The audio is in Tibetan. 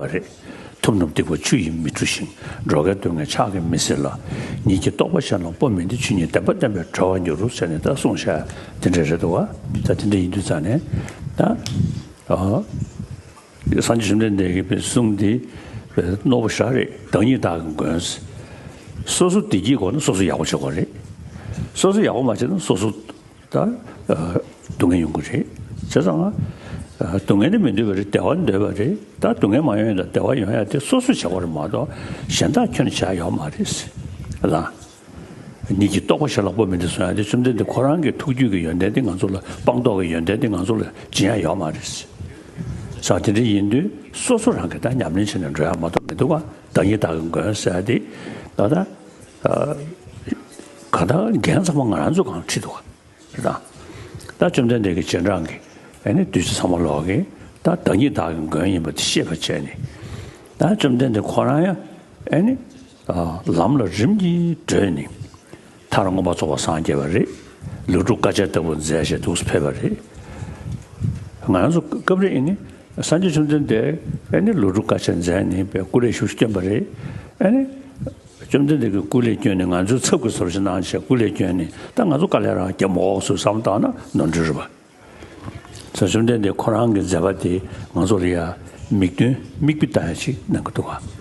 བ་རེད། ཐུབ་རྣམས་སྡིག་པ་ཆུ་ཡིས་མི་འཁྲུ་ཞིང་འགྲོ་ཁའི་སྡུག་བསྔལ་ཆགས་ཀྱིས་མི་སེལ་ལ། ཉིད་ཀྱི་རྟོག་པ་ཤར་ལ་པོ་མི་འདི་ཆུ་ཉིད་བདེན་པ་སྟོན་པའི་གྲོལ་བར་འགྱུར་རོ་ཟེར་ནས་ད་གསུངས་བྱ། དེ་འདྲ་རེད་དོ། ད་དེ་འདྲ་ཡིན་དུས་ཙང་ནས། ད། སངས་རྒྱས་བཅོམ་ལྡན་འདས་ཀྱི་བའི་གསུང་འདི། རྣོ་པོ་ཞག་རེད་བདག་ཉིད་དག་གི་མགོན། སོ་སོ་བདེ་སྐྱིད་དགོས་ན་སོ་སོ་ཡག་པོ་བྱེད་དགོས་རེད། སོ་སོ་ཡག་པོ་མ་བྱས་ན་སོ་སོ། ད་སྡུག་བསྔལ་ཡོང་གི་རེད་བྱས་ཙང། སྡུག་བསྔལ་ནི་མི་འདོད་པ་རེད་བདེ་བ་འདོད་པ་རེད་ད་སྡུག་བསྔལ་མ་ཡོང་ཡང་བདེ་བ་ཡོང་ཡ་དེ་སོ་སོས་བྱ་བ་རེད་མ་གཏོགས་གཞན་དག་ཁྱོད་ནས་བྱ་ཡག་མ་རེད་ཟེར་ལ། ཉིད་ཀྱིས་རྟོགས་པ་ཞེ་ལག་པོ་མི་འདི་སོང་ཡ་དེ་བཅོམ་ལྡན་འདས་ཁོ་རང་གི་ཐུགས་རྒྱུད་ཀྱི་ཡོན་ཏན་དེ་ང་ཚོ་ལ་སྤང་རྟོགས་ཀྱི་ཡོན་ཏན་དེ་ང་ཚོ་ལ་སྦྱིན་ཡ་ཡག་མ་རེད་ཟེར། བྱ་དེ་འདྲ་ཡིན་དུས་སོ་སོ་རང་གིས་ད་ཉམས་ལེན་བྱས་ནས་འགྲོ་ཡ་མ་གཏོགས་མི་འདུག་བདག་ཉིད་བདག་གི་མགོན་ཟེར་ཡ་དེ་ད། གང་དག་རྒྱན་ཚང་མ་ང་རང་ཚོ་གང་ཁྲིད་འདུག་ག་དང། ད་བཅོམ་ལྡན་འདས་ཀྱི་སྤྱན་དྲངས་ཀྱི་ཨ་ནི་བདུད་རྩི་ཚང་མ་ལོག་གི་ད་བདག་ཉིད་བདག་གི་མགོན་ཡིན་པ་དེ་ཤེས་པར་བྱས་ནས། ད་བཅོམ་ལྡན་འདས་ཁོ་རང་ཡང་ཨ་ནི། ལམ་ལ་རིམ་གྱིས་བགྲོད་ནས། མཐར་མངོན་པར་རྫོགས་པར་སངས་རྒྱས་པ་རེད། ལུག་ཕྲུག་དཀར་ཆ་ལྟ་བུ་མཛེས་ཞེས་འདུག་སུ་ཕེབས་པ་རེད། ང་རང་ཚོ་སྐབས་རེ་ཨ་ནི། སངས་རྒྱས་བཅོམ་ལྡན་འདས་ཨ་ནི་ལུག་ཕྲུག་དཀར་ཆ་མཛེས་ནས་པའི་སྐུ་ལས་བཞུགས་སུ་བསྟན་པ་རེད་ཨ་ནི། བཅོམ་ལྡན་འདས་ཀྱི་སྐུ་ལས་བསྐྱོན་ནས་ང་ཚོའི་ཚབ་ཀྱི་ཟོར་ཞིག་གནང་ཞེས་སྐུ་ལས་བསྐྱོན་ནས་ད་ང་ཚོ་དཀའ་ལས་རང་བརྒྱབ་མ་འོག་སུས་བསམ་བཏང་ན་ནོར་འཁྲུལ་རེད་པ། ཚེ་བཅོམ་ལྡན་འདས་ཁོ་རང་གི་མཛད་པ་དེས་ང་ཚོ་ལ་ཡང་མིག་སྟོན་མིག་དཔེ་ལྟ་ཡག་ཅིག་གནང་གི་འདུག་ག།